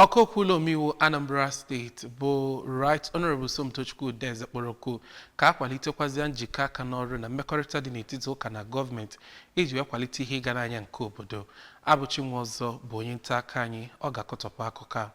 Ọka okwu ụlọ omeiwu Anambra steeti bụ Right Honourable Somtochukwu Udeze kpọrọ oku ka a kwalitekwazịa njikọ aka n'ọrụ na mmekọrịta dị n'etiti ụka na gọọmenti iji wee kwalite ihe ịga n'anya nke obodo. Abụchi Nwaọzọ bụ onye nta akụkọ anyị, ọ ga-akọtọpụ akụkọ a.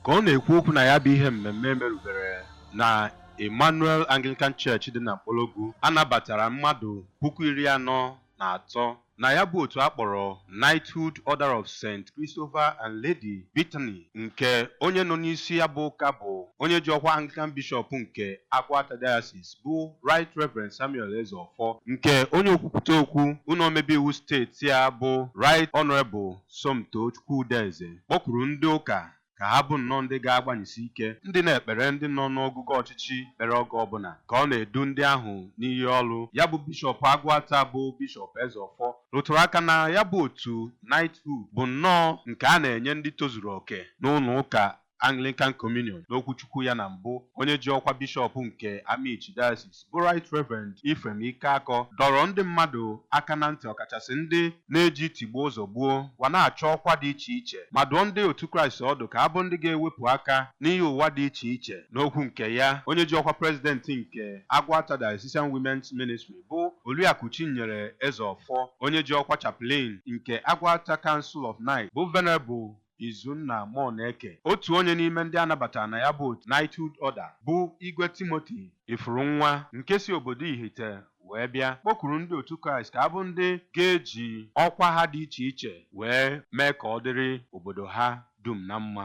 Ka ọ na-ekwu okwu na ya bụ ihe mmemme e merubere na Emmanuel Anglican Church dị na Mkpologwu, a nabatara mmadụ puku iri anọ na atọ na ya bụ otu a kpọrọ Knighthood Order of Saint Christopher and Lady Bethany nke onye nọ n'isi ya bụ ụka bụ onye ji ọkwa Anglican Bishop nke Agụata Diocese bụ Right Reverend Samuel Ezeofor nke onye okwupụta okwu ụlọ omebe iwu steeti a bụ Right Honourable Somtochukwu Udeze kpọkuru ndị ụka ka ha bụ nnọọ ndị ga-agbanyesi ike ndị na-ekpere ndị nọ n'ogogo ọchịchị ekpere oge ọbụla ka ọ na-edu ndị ahụ n'iyi ọrụ. Ya bụ Bishọp Agụata bụ Bishọp Ezeọfọ rụtụrụ aka na ya bụ otu Knighthood bụ nnọọ nke a na-enye ndị tozuru oke n'ụlọụka Anglican Communion n'okwuchukwu ya na mbụ, onye ji ọkwa Bishọp nke Amichi Diocese bụ Right Reverend Ephraim Ikeakọ dọrọ ndị mmadụ aka na ntị ọkachasị ndị na-eji tigbuo zọgbuo wee na-achọ ọkwa dị iche iche ma dụọ ndị otu Kraịst ọdụ ka ha bụ ndị ga-ewepụ aka n'ihe ụwa dị iche iche. N'okwu nke ya, onye ji ọkwa President nke Agụata Diocesan Women's Ministry bụ Oriakụ Chinyere Ezeọfọ, onye ji ọkwa Chaplain nke Agụata Council of Knights bụ Venerable Izunna Moneke, otu onye n'ime ndị a nabatara na ya bụ otu Knighthood Order bụ Igwe Timothy Ifurunwa nke si obodo Ihite wee bịa, kpọkuru ndị otu Kraịst ka ha bụ ndị ga-eji ọkwa ha dị iche iche wee mee ka ọ dịrị obodo ha dum na mma.